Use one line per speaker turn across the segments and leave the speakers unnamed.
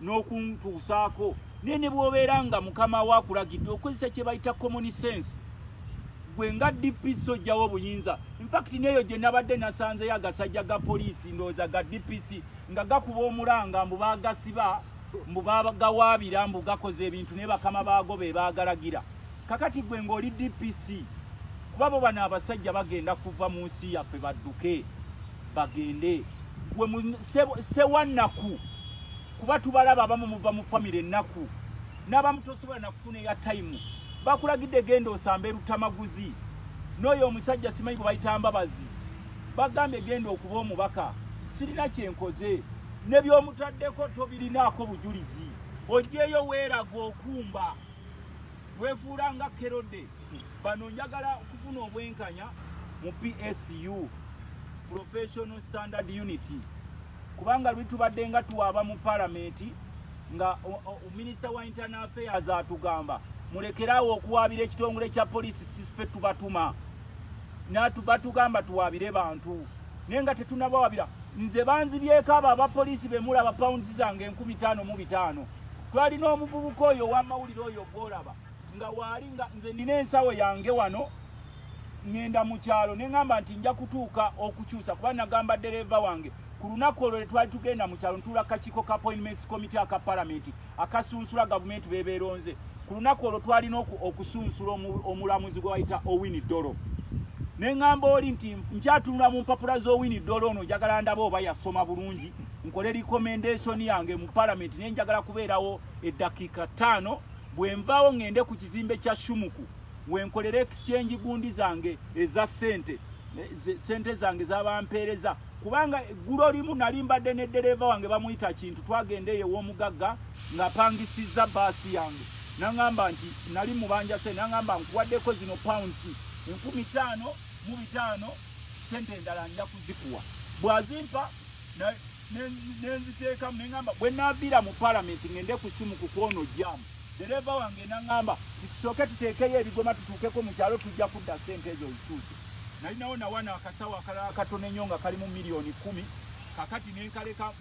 n'okuntuusaako naye ne bw'obeera nga mukama wo akulagidde okozesa kye bayita common sense gwe nga dpc ojjawo obuyinza infakiti neeyo gye nabadde nasanzeyo agasajja ga poliisi ndowooza ga dpc nga gakuba omulanga mbu baagasiba mbu bagawaabira mbu gakoze ebintu naye bakama baago be baagalagira kakati gwe ng'oli dpc kuba bo bano abasajja bagenda kuva mu nsi yaffe badduke bagende gwe sewannaku kuba tubalaba abamu muva mu famire ennaku n'abamu tosobola nakufuna eya tayimu bakulagidde genda osamba erutamaguzi n'oyo omusajja simanyi gwe bayita mbabazi bagambye genda okuba omubaka sirina kyenkoze ne by'omutaddeko tobirinaako bujulizi ojjeeyo weeraga okumba wefuula nga kerode bano njagala okufuna obwenkanya mu psu professional standard unity kubanga lwi tubadde nga tuwaaba mu palamenti nga minisita wa internal affairs atugamba mulekeraawo okuwaabira ekitongole kya poliisi sisfe tubatuma batugamba tuwaabire bantu naye nga tetunabawabira nze banzibyeko abo abapoliisi bemulaba pounds zange enkumi taano mu bitaano twali n'omuvubuka oyo owamawulire oyo gwolaba nga waali nga nze nina ensawo yange wano ŋenda mu kyalo ne ŋamba nti nja kutuuka okukyusa kuba nagamba ddereeva wange ku lunaku olwo lwe twali tugenda mu kyalo ntuula kakiiko ka appointments committee aka palamenti akasunsula gavumenti bebeeronze ku lunaku olwo twalina okusunsula omulamuzi gwe wayita owini dolo ne ŋamba oli nti nkyatunula mu mpapula z'owini dolo ono njagala ndaba oba yasoma bulungi nkole recommendation yange mu parliament ne njagala kubeerawo eddakiika ttaano bwe nvaawo ngende ku kizimbe kya shumuku wenkolera exchange gundi zange eza sente sente zange zabampeereza kubanga eggulo limu nali mbadde ne ddereeva wange bamuyita kintu twagenda eyo ew'omugagga ngapangisizza baasi yange nangamba nti nali mubanja sente nangamba nkuwaddeko zino pounds enkumi taano mu bitaano sente endala nja kuzikuwa bwazimpa nenziteekamu neŋamba bwe naviira mu palamenti ngende ku simu ku kwono jamu dereeva wange naŋamba titusooke tuteekeyo ebigoma tutuukeko mu kyalo tujja kudda ssente ezo olutuuke nalinawo nawana akasawo akalala akatono ennyo nga kalimu miliyoni kumi kakati nenkaleka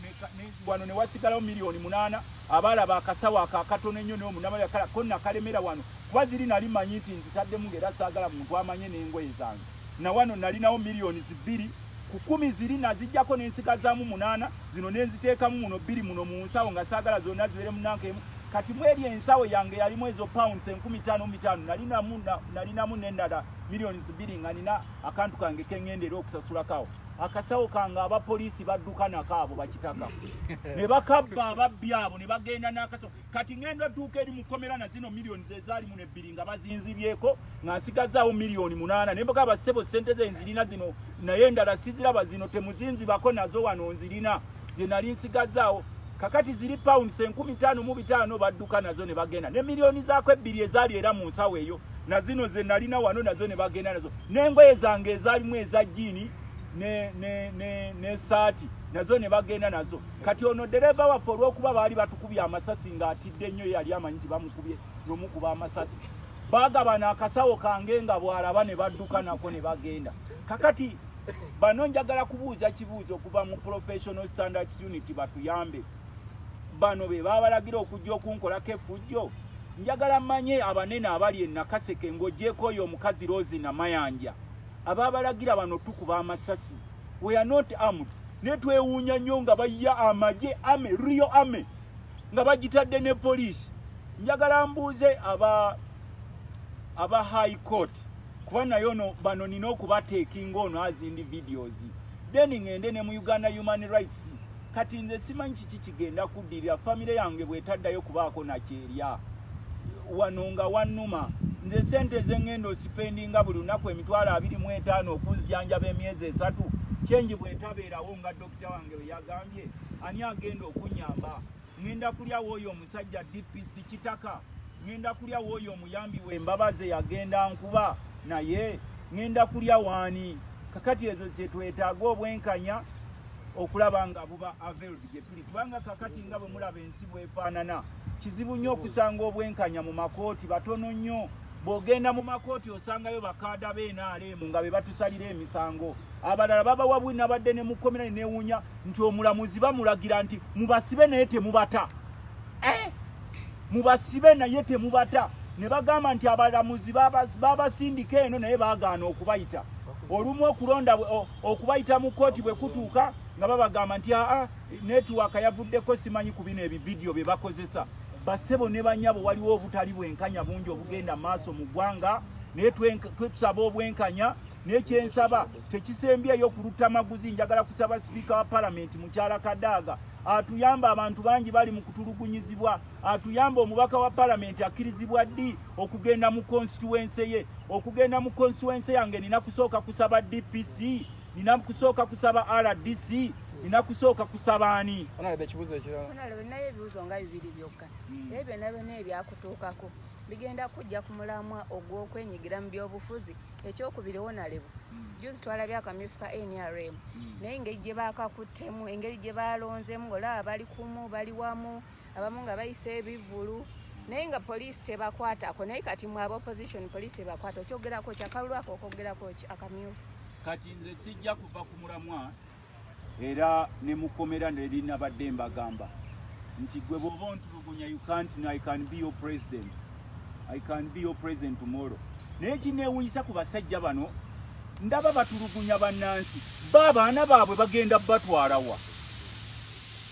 wano newasigalawo miliyoni munaana abaalaba akasawo ako akatono ennyo naye omunamayakala ko nakalemera wano kuba ziri nali manyi nti nzitaddemu ngaera saagala muntu amanye n'engoye zange na wano nalinawo miliyoni zibbiri Ku kkumi ziri naziggyako ne nsigazaamu munaana, zino ne nziteekamu muno bbiri muno mu nsawo nga saagala zonna zibeere mu nanka emu. Kati mu eri ensawo yange yalimu ezo pounds enkumi ttaano mu bitaano, nalinamu nalinamu n'endala millions bbiri nga nina akantu kange ke ŋŋenda era okusasulako awo akasawo kange abapoliisi badduka nako abo bakitaka ne bakabba ababbi abo ne bagenda n'akasawo kati ngenda duuka eri mukomera na zino millions ezaali muno ebbiri nga bazinzibyeko nga nsigazaawo million munaana naye mugaba sebo sente ze nzirina zino naye endala siziraba zino temuzinzibako nazo wano nzirina ze nali nsigazaawo kakati ziri pounds enkumi taano mu bitaano badduka nazo ne bagenda ne millioni zaako ebbiri ezaali era mu nsawo eyo na zino ze nalina wano nazo ne bagenda nazo n'engoye zange ezaalimu eza jiini ne, ne, ne, ne saati nazo ne bagenda nazo kati ono dereva waffe olwokuba baali batukubye amasasi ng'atidde nnyo yali amanyi nti bamukubye nomukuba amasasi bagabana akasawo kange nga bwalaba ne badduka nako ne bagenda kakati bano njagala kubuuza kibuuzo okuva mu professional standards unit batuyambe bano be babalagira okujja okunkolako efujjo njagala manye abanene abali enakaseke ng'ogyeko oyo omukazi rosi namayanja ababalagira bano tukuba amasasi we are not armed ne twewuunya nnyo nga bayya amagye ame rio ame nga bagitadde ne poliisi njagala mbuuze aba aba high court kuba nayo no bano nina okubateekinga ono azindi videos then ngende ne mu uganda human rights kati nze simanyi kiki kigenda kuddirira famire yange bwetaddayo kubaako nakyerya wano nga wannuma nze sente zengenda osipendinga buli lunaku emitwalo abiri mu etaano okunzijanjaba emyezi esatu kyengi bwetabeerawo nga dokita wange weyagambye ani agenda okunyamba ngenda kulyawo oyo omusajja dpc kitaka Ngenda kulya wooyo omuyambi we mbabaze yagenda nkuba naye ngenda kulya waani kakati ezo kyetwetaaga obwenkanya okulaba nga buba aveled gyetuli kubanga kakati nga bwe mulaba ensi bwefaanana kizibu nnyo okusanga obwenkanya mu makooti batono nnyo bw'ogenda mu makooti osangayo bakaada beenaaleemu nga be batusalira emisango abalala babawa bwinabadde ne mukkomera ne neewuunya nti omulamuzi bamulagira nti mubasibe naye temubata eh! mubasibe naye temubata ne bagamba nti abalamuzi babasindika eno naye bagaana okubayita olumu okulonda okubayita mu kkooti bwe kutuuka nga babagamba nti aa netiwaka yavuddeko simanyi ku bino ebividiyo bye bakozesa basebo ne banyabo waliwo obutali bwenkanya bungi obugenda maaso mu ggwanga naye twesaba obwenkanya naye kyensaba tekisembyeyo ku luttamaguzi njagala kusaba sipiika wa palamenti mukyala kadaaga atuyamba abantu bangi bali mu kutulugunyizibwa atuyamba omubaka wa palamenti akkirizibwa ddi okugenda mu konsituwense ye okugenda mu konsituwense yange nina kusooka kusaba dpc nina kusooka kusaba rdc nina kusooka kusaba ani onalaba ekibuzo
ekiralanaye ebibuzo nga
bibiri byokka hmm. ebyo byona byona ebyakutuukako bigenda kujja ku mulamwa ogw'okwenyigira mu byobufuzi ekyokubiri wonalebu hmm. juzi twalabye akamyufu ka nrm hmm. naye engeri gye bakakuttemu engeri gye balonzemu ngaolaba bali kumu bali wamu abamu nga bayisa ebivulu hmm. naye nga poliisi tebakwatako naye kati mwe aba opposition poliisi ebakwata okyogerako ki akalulu ako okwogerako ki akamyufu kati nze
sijja kuva ku mulamwa era ne mukomera nelinabadde mbagamba nti gwe bwoba ontulugunya you can't no, i can be your president i can be your president tomorrow naye kinewunyisa ku basajja bano ndaba batulugunya bannansi ba abaana baabwe bagenda batwalawa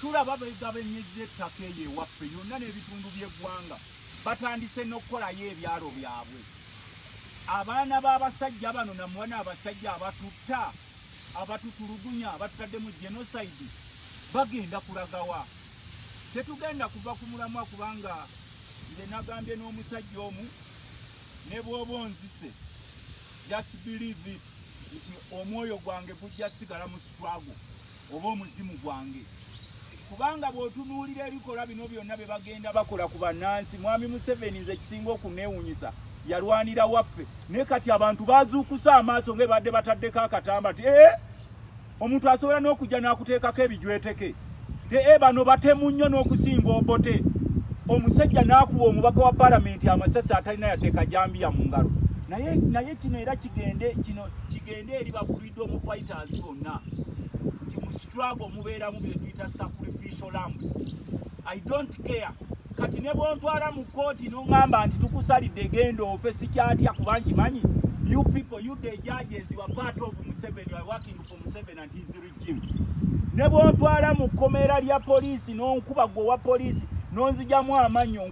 tulaba begabenyeza ettaka eyo ewaffe yonna n'ebitundu by'eggwanga batandise n'okukolayo ebyalo byabwe abaana b'abasajja bano namuwana abasajja abatutta abatutulugunya abatutadde mu genocide bagenda kulagawa tetugenda kuva ku mulamwa kubanga nze nagambye n'omusajja omu ne bwoba onzise just believe it nti omwoyo gwange gujja sigala mu sitwago oba omuzimu gwange kubanga bw'otunuulira ebikolwa bino byonna bye bagenda bakola ku bannansi mwami museveni nze ekisinga okunneewunyisa yalwanira waffe naye kati abantu bazuukusa amaaso nga ebadde bataddeko akatamba ti ee eh, omuntu asobola n'okujja n'akuteekako ebijweteke ti ee eh, bano batemu nnyo n'okusinga obote omusajja n'akuwa omubaka wa palamenti amasasi atalina yadde kajambiya mu ngalo naye naye kino era kigende kino kigende eri bafu Tubuulidde omu fighters bonna nti mu struggle mubeeramu bye tuyita sacrificial lambs. I don't care kati ne bwontwala mu kkooti n'oŋŋamba nti tukusalidde genda ofe sikyatya kuba nkimanyi you people you the judges you are part of Museveni you are working for Museveni and his regime ne bwontwala mu kkomera lya poliisi n'onkuba gwe owa poliisi n'onzijamu amannyo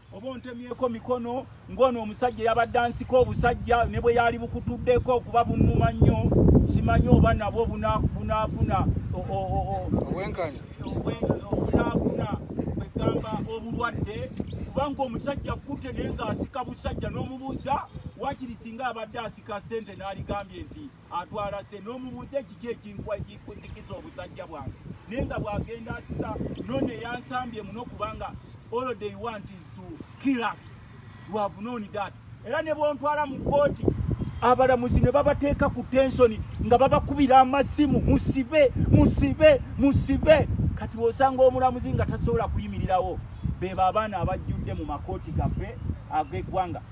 oba ontemyeko mikono ng'ono omusajja yabadde ansika obusajja ne bwe yaali bukutuddeko okuba bunnuma nnyo simanyi oba nabwo bunaafuna obwenkanya obunaafuna kwegamba obulwadde kubanga omusajja kkutte naye ng'asika busajja n'omubuuza wakiri singa abadde asika ssente n'aligambye nti atwala se n'omubuuza ekiki ekinkwa ekikuzikiza obusajja bwange naye nga bw'agenda asika none yansambye muno kubanga all they want is to kill us you have known that era ne bwontwala mu kkooti abalamuzi ne babateeka ku tensoni nga babakubira amasimu musibe musibe musibe kati osanga omulamuzi nga tasobola kuyimirirawo bebo abaana abajjudde mu makooti gaffe ag'eggwanga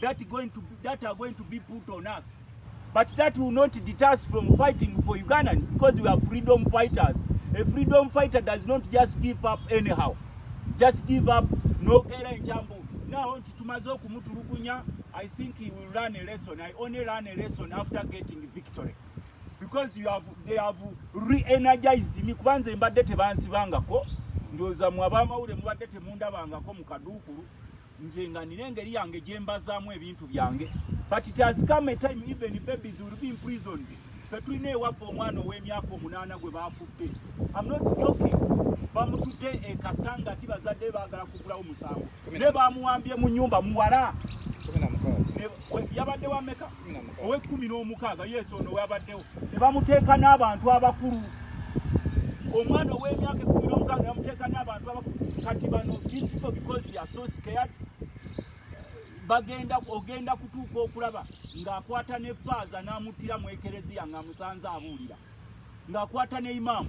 that going to that are going to be put on us but that will not deter us from fighting for Ugandans because we are freedom fighters a freedom fighter does not just give up anyhow just give up no kera enchambu now nti tumaze okumutulugunya i think he will learn a lesson i only learn a lesson after getting victory because you have they have re-energized me kuba nze mbadde tebansibangako ndowooza mwe abamawulire mubadde temundabangako mu kaduukulu nze nga nina engeri yange gyembazaamu ebintu byange but it has come a time even babies will be imprisoned fe tulina ewaffe omwana ow'emyaka omunaana gwe baakudde am not joking bamutudde ekasanga ti bazadde baagala kugulawo musango ne bamuwambye mu nyumba muwala yabadde wameka ow'ekkumi n'omukaaga yesu ono wabaddewo ne bamuteeka n'abantu abakulu omwana ow'emyaka ekkumi n'omukaaga ne bamuteeka n'abantu abakulu kati bano these people because they are so scared bagenda ogenda kutuuka okulaba ng'akwata ne faaza n'amuttira mu ekereziya ng'amusanze abuulira ng'akwata ne imaamu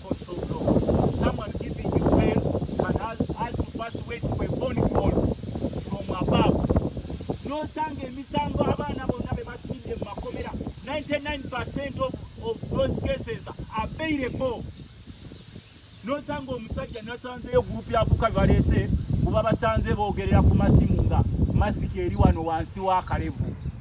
nosanga emisango abaana bonna be basimidde mu makomera 99 percent of, of those cases are bailable nosanga omusajja nasanzeyo gurupu yakuka bebaleese kuba basanze boogerera ku masimu nga masiki eri wano wansi wa kalevu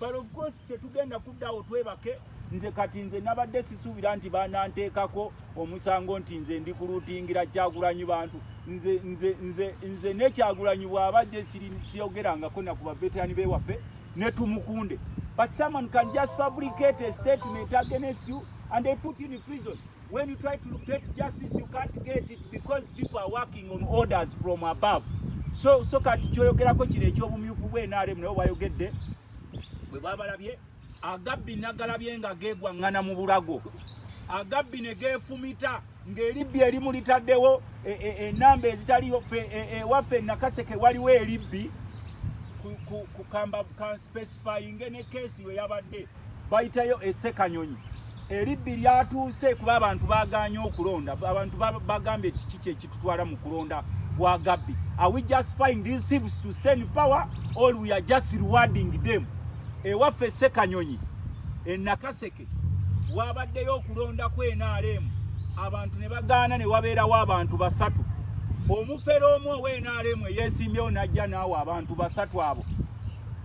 but of course tetugenda kuddawo twebake nze kati nze nabadde sisuubira nti bananteekako omusango nti nze ndi kuluutingira kyagulanyi bantu nze nze nze nze nekyagulanyi bwaba gye siyogerangako naku baveterani bewaffe netumukunde but someone can just fabricate a statement against you and they put you in prison When you try to get justice, you can't get it because people are working on orders from above. So, so kati kyoyogerako kino eky'obumyufu bwe NRM nayo wayogedde bwe babalabye agabbi nagalabye nga geegwaŋŋana mu bulago agabbi ne geefumita ng'eribbi erimu litaddewo e, e, enamba ezitaliyo ewaffe e, nakaseke waliwo eribbi ku kamba ka space bamusatisfayinge ne keesi we yabadde bayitayo esekanyonyi eribbi lyatuuse kuba abantu baganye okulonda abantu bagambye kiki kyekitutwala mu kulonda wa gabbi are we just find these thieves to stand power or we are just rewarding them ewaffe sekanyonyi enakaseke wabaddeyo okulonda ku nrm abantu ne bagaana ne wabeerawo abantu basatu omufere omu owe nrm eyesimbyewo najja naawe abantu basatu abo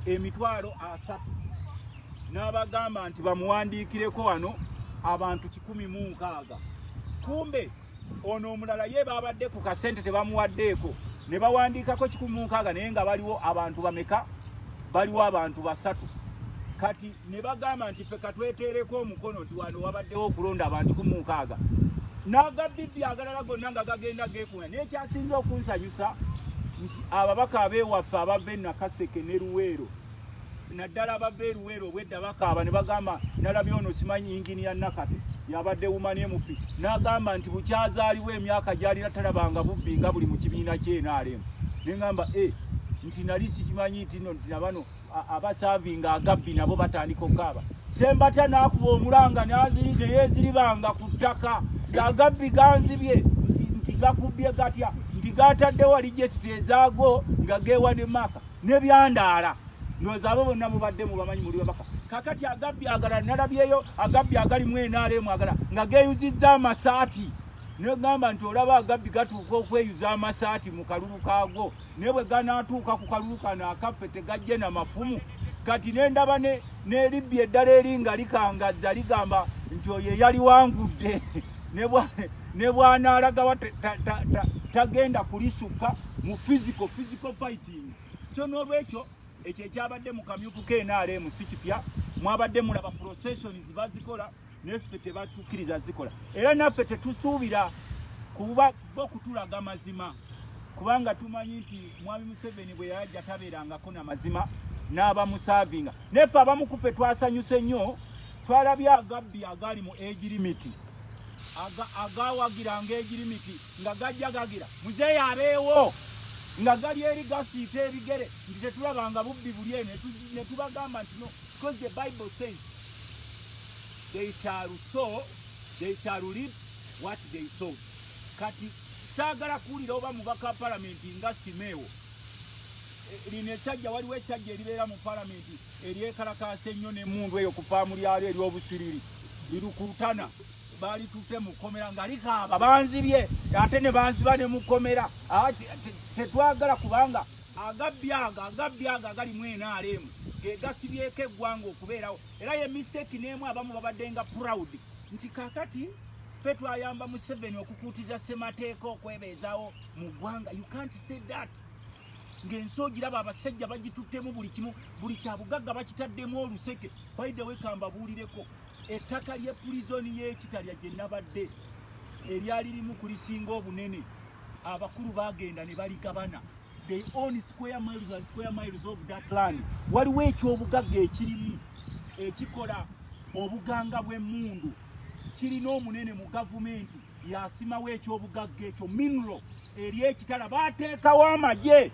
emitwalo asatu n'abagamba nti bamuwandiikireko wano abantu kikumi mu nkaaga kumbe ono omulala ye baabadde ku kasente tebamuwaddeeko ne bawandiikako kikumi mu nkaaga naye nga baliwo abantu bameka baliwo abantu basatu kati ne bagamba nti ffe katweteereko omukono nti wano wabaddewo okulonda abantu kikumi mu nkaaga n'agabibbi agalala gonna nga gagenda geku N'ekyasinze okunsanyusa nti ababaka abewaffe abava e Nakaseke ne Luweero naddala abava e Luweero obwedda bakaaba ne bagamba nalabye ono simanyi yingini ya Nakate yabadde wumani emupi n'agamba nti bukyazaaliwo emyaka gyalina talabanga bubbi nga buli mu kibiina kye nrm ne ngamba e eh, nti nali sikimanyi nti no nti nabano abasavinga agabbi nabo batandika okukaaba sembatya nakuba omulanga nazinze yeziribanga ku ttaka ngagabbi ganzibye nti gakubbye gatya nti gatadde wali jesiti ezaago nga gewa ne maka nebyandaala ndowooza abo bonna mubadde mubamanyi muli babaka kakati agabbi agala nalabyeyo agabbi agali mu nrm agala nga geyuzizza amasaati negamba nti olaba agabbi gatuuka okweyuza amasaati mu kalulu kaago naye bwe ganaatuuka ku kalulu kano akaffe tegajje na mafumu kati ne ndaba n'eribbi eddala eri nga likangazza ligamba nti oyo eyaliwangudde ne bw'anaalagawa tagenda kulisukka mu physical physical fighting kyo n'olwekyo ekyo ekyabadde mu kamyufu knrm si kipya mwabadde mulaba processions bazikola neffe tebatukiriza zikola era naffe tetusuubira kuba bo kutulaga mazima kubanga tumanyi nti mwami museveni bwe yajja tabeerangako na mazima n'abamusaavinga neffe abamu kuffe twasanyuse nnyo twalabye agabbi agaali mu egirimiti agawagira nga egirimiti nga gajja gagira muzeeyi abeewo nga gali eri gasiita ebigere nti tetulabanga bubbi buli eno ne tubagamba ntino Because the Bible says they shall sow, they shall reap what they sow. Kati saagala kuwulira oba mubaka wa palamenti nga simeewo eh, lino esajja waliwo esajja eribeera mu palamenti eryekalakaasa ennyo nemundu eyo ku faamu lyalo eryobusiriri lirukutana balitute mukomera nga likaaba banzibye ate ne banziba ne mukomera ah, tetwagala kubanga Agabbi ago agabbi ago agali mu NRM ge gasibyeko eggwanga okubeerawo era ye mistake n'emu abamu babadde nga proud nti kakati fe twayamba Museveni okukuutiza ssemateeka okwebeezawo mu ggwanga you can't say that ng'ensi ogiraba abasajja bagituttemu buli kimu buli kyabugagga bakitaddemu oluseke by the way kambabuulireko ettaka ly'epulizoni y'ekitalya gye nabadde eryali limu kulisinga obunene abakulu bagenda ne baligabana they own square miles and square miles of that land waliwo ekyobugagga ekirimu ekikola obuganga bw'emmundu kirina omunene mu gavumenti yasimawo ekyobugagga ekyo mineral eri ekitala bateekawo amagye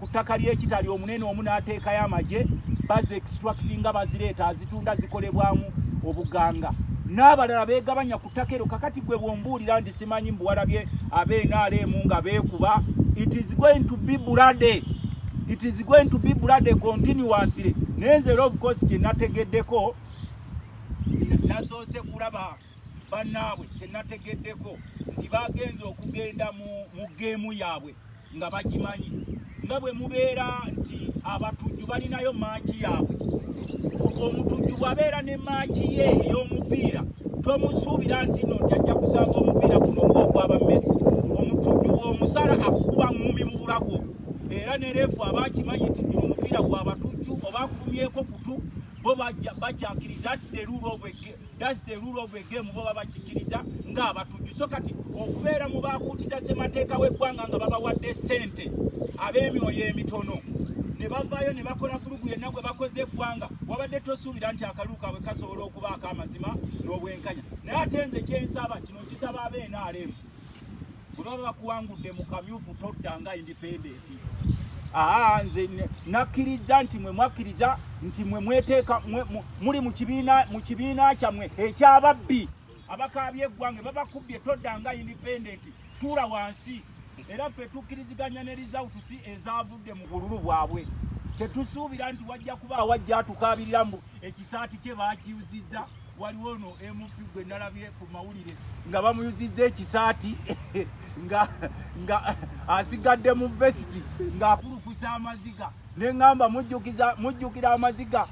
ku ttaka ly'ekitali omunene omu n'ateekayo amagye bazi extractinga bazireeta azitunda zikolebwamu obuganga n'abalala beegabanya ku ttaka ero kakati gwe bwombuulira nti simanyi mbuwalabye abnrm nga beekuba it is going to be bulade it is going to be bulade continuously naye nze era obukozi kye nategeddeko nasoose kulaba bannaabwe kyenategeddeko nti bagenze okugenda mu geemu yaabwe nga bagimanyi nga bwe mubeera nti abatujju balinayo maaki yaabwe omutujju bwabeera ne maaki ye ey'omupiira tomusuubira nti no jajja kusanga omupiira guno ng'ogwaba mesi omutujju omusala akukuba ngumi mu bulago era ne reefu aba akimanyi nti guno omupiira gwa batujju oba akulumyeko kutu bo bakyakiri that's the rule of a game That's the rule of the game boba bakikiriza nga abatujju so kati okubeera mu baakuutiza ssemateeka w'eggwanga nga babawadde ssente ab'emyoyo emitono ne bavaayo ne bakola kulugu yenna gwe bakoze eggwanga wabadde tosuubira nti akalulu kaabwe kasobola okubaako amazima n'obwenkanya naye ate nze kyensaba kino kisaba abnrm bwe baba bakuwangudde mu kamyufu todda nga indipendenti aa nze nakkiriza nti mwe mwakkiriza nti mwe mweteeka muli mu kibiina kyammwe ekyababbi abakaabye eggwange babakubbye todda nga indipendenti tuula wansi era ffe tukkiriziganya ne rizawutusi ezaavudde mu bululu bwabwe tetusuubira nti wajja kuba awajja atukaabirira mbu ekisaati kye baakiyuzizza waliwo ono mp gwe nalabye ku mawulire nga bamuyuzizza ekisaati nga nga asigadde mu vesiti ng'akulukusa amaziga ne ŋŋamba mujjukira amaziga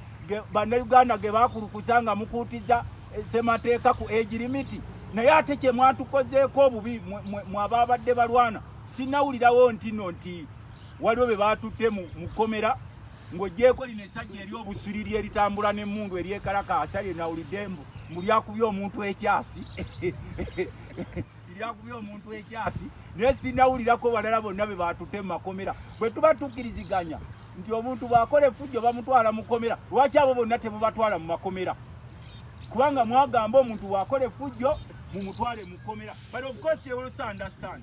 bannayuganda ge baakulukusa nga mukuutiza eh, semateeka ku egi limiti naye ate kye mwatukozeeko obubi mwabaabadde balwana sinawulirawo ntino nti waliwo be baatutte mu kkomera Ng'oggyeeko lino essajja eri obusiriri eritambula n'emmundu eryekalakaasa lye nawulidde mbu mbu lyakubye omuntu ekyasi lyakubye omuntu ekyasi naye sinawulirako balala bonna be baatute mu makomera bwe tuba tukkiriziganya nti omuntu bw'akola effujjo bamutwala mu komera lwaki abo bonna tebubatwala mu makomera kubanga mwagamba omuntu bw'akola effujjo mumutwale mu komera but of course you also understand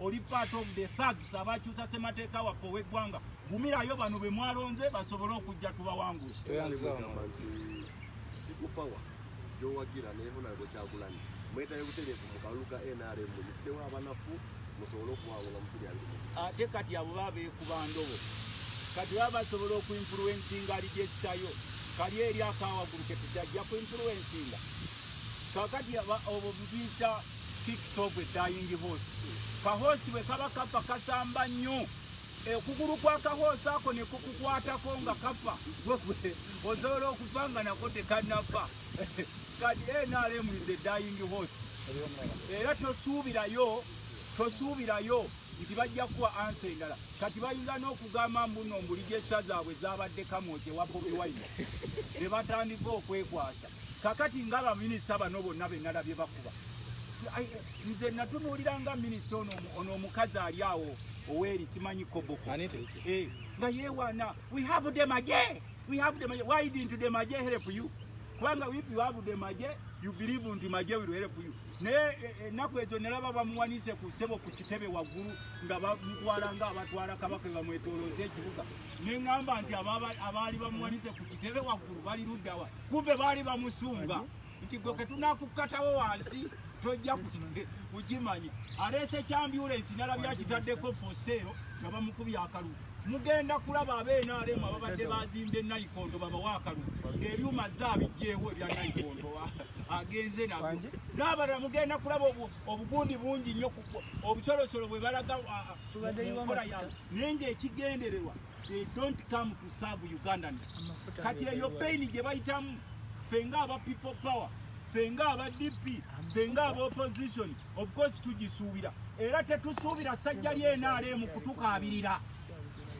oli part of the thugs abakyusa semateeka waffe ow'eggwanga gumirayo bano be mwalonze basobole okujja tubawangula
gyowagira nayehonalebo kyagulanyi mwetaye butereevu mu kalulu ka nrm muyisewo abanafu musobole okuwangula mukuli abiri ate kati abo
baba beekuba ndobo kati baba basobola okuinfluensinga ali gyekitayo kali eri akawagulu ketukyajja kuinfluensinga kakati obo bibiyita Kicks of a dying horse. Kahoosi bwe kaba kafa kasamba nnyo okugulu kwa kahoosi ako ne kukukwatako nga kafa osobola okufa nga nako tekanafa kati nrm is a dying horse era tosuubirayo tosuubirayo nti bajja kuwa ansa endala kati bayinza n'okugamba mbuno mbuli gyessa zaabwe zaabadde kamwoje wa bobi wine ne batandika okwekwasa Kakati nga ba minister bano bonna be nalabye bakuba nze natunuulira nga minisita ono ono omukazi ali awo oweri simanyi koboko eh, nga yewana we have the maje we have the maje why didn't the maje help you kubanga if you have the maje you believe nti maje will help you naye eh, eh, ennaku ezo nalaba bamuwanise ku ssebo ku kitebe waggulu nga bamutwala nga abatwala kabaka bamwetolooza ekibuga ne ŋŋamba nti abaali bamuwanise ku kitebe waggulu bali luddawa Kumbe baali bamusunga nti gwe ketunakukkatawo wansi tojja kukimanya. Aleese kyambyulensi nalabye akitaddeko foseero nga bamukubye akalulu. Mugenda kulaba ab'NRM ababadde bazimbye nayikondo babawa akalulu ng'ebyuma zaabijjeewo ebya nayikondo agenze nabyo. N'abalala mugenda kulaba obugundi bungi nnyo obusolosolo bwe balaga nkola yaabwe naye ng'ekigendererwa they don't come to serve Ugandans. Kati eyo pain gye bayitamu ffe nga aba people power ffe nga aba DP ffe nga aba opposition of course tugisuubira era tetusuubira sajja lye NRM kutukaabirira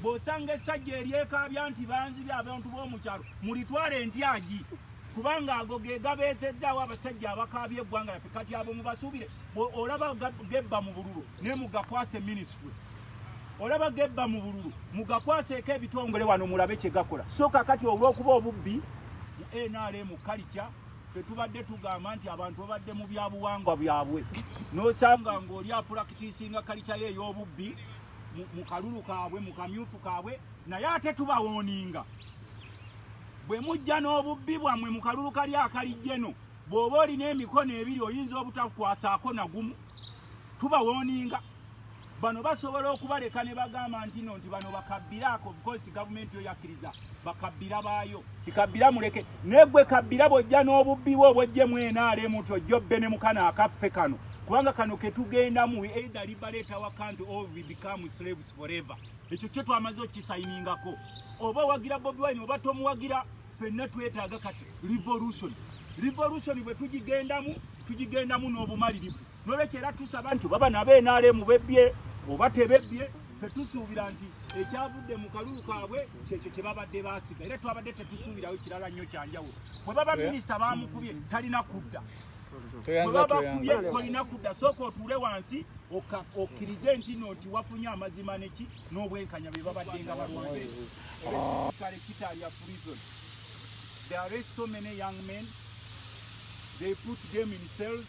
bw'osanga essajja eryekaabya nti banzibye abantu b'omukyalo mulitwala entyagi kubanga ago ge gabeezeddaawo abasajja abakaabya eggwanga laffe kati abo mubasuubire olaba gebba mu bululu naye mugakwase minisitule olaba gebba mu bululu mugakwaseeko ebitongole wano mulabe kye gakola so kakati olw'okuba obubbi mu nrm kalikya fe tubadde tugamba nti abantu babadde mu byabuwangwa byabwe n'osanga ng'oli apulakitisinga kalikya ye ey'obubbi mu kalulu kaabwe mu kamyufu kaabwe naye ate tubawooninga bwe mujja n'obubbi bwammwe mu kalulu kali akalijjeno bw'oba olina emikono ebiri oyinza obutakwasaako nagumu tubawooninga bano basobola okubaleka ne bagamba nti no nti bano bakabbiraako because gavumenti yo yakkiriza bakabbira baayo tikabbira muleke naye gwe kabbira bwojja n'obubbi bwe obwojje mwena alemu nti ojja obbe ne mukana akaffe kano kubanga kano ketugendamu either liberate our country or we become slaves forever ekyo kyo twamaze okukisayiningako oba owagira bobi wine oba tomuwagira fenna twetaaga kati revolution revolution bwe tugigendamu tugigendamu n'obumalirivu Nolwekyo era tusaba nti baba nabo NRM bebbye oba tebebbye tetusuubira nti ekyavudde mu kalulu kaabwe kyekyo kye babadde baasiga era twabadde tetusuubirawo kirala nnyo kyanjawulo bwe baba minisita baamukubye talina kudda webabakubye tolina kudda sooka otuule wansi okkirize nti no nti wafunye amazima neki n'obwenkanya bye babadde nga balwanyi kale kitalya prison there are so many young men they put them in cells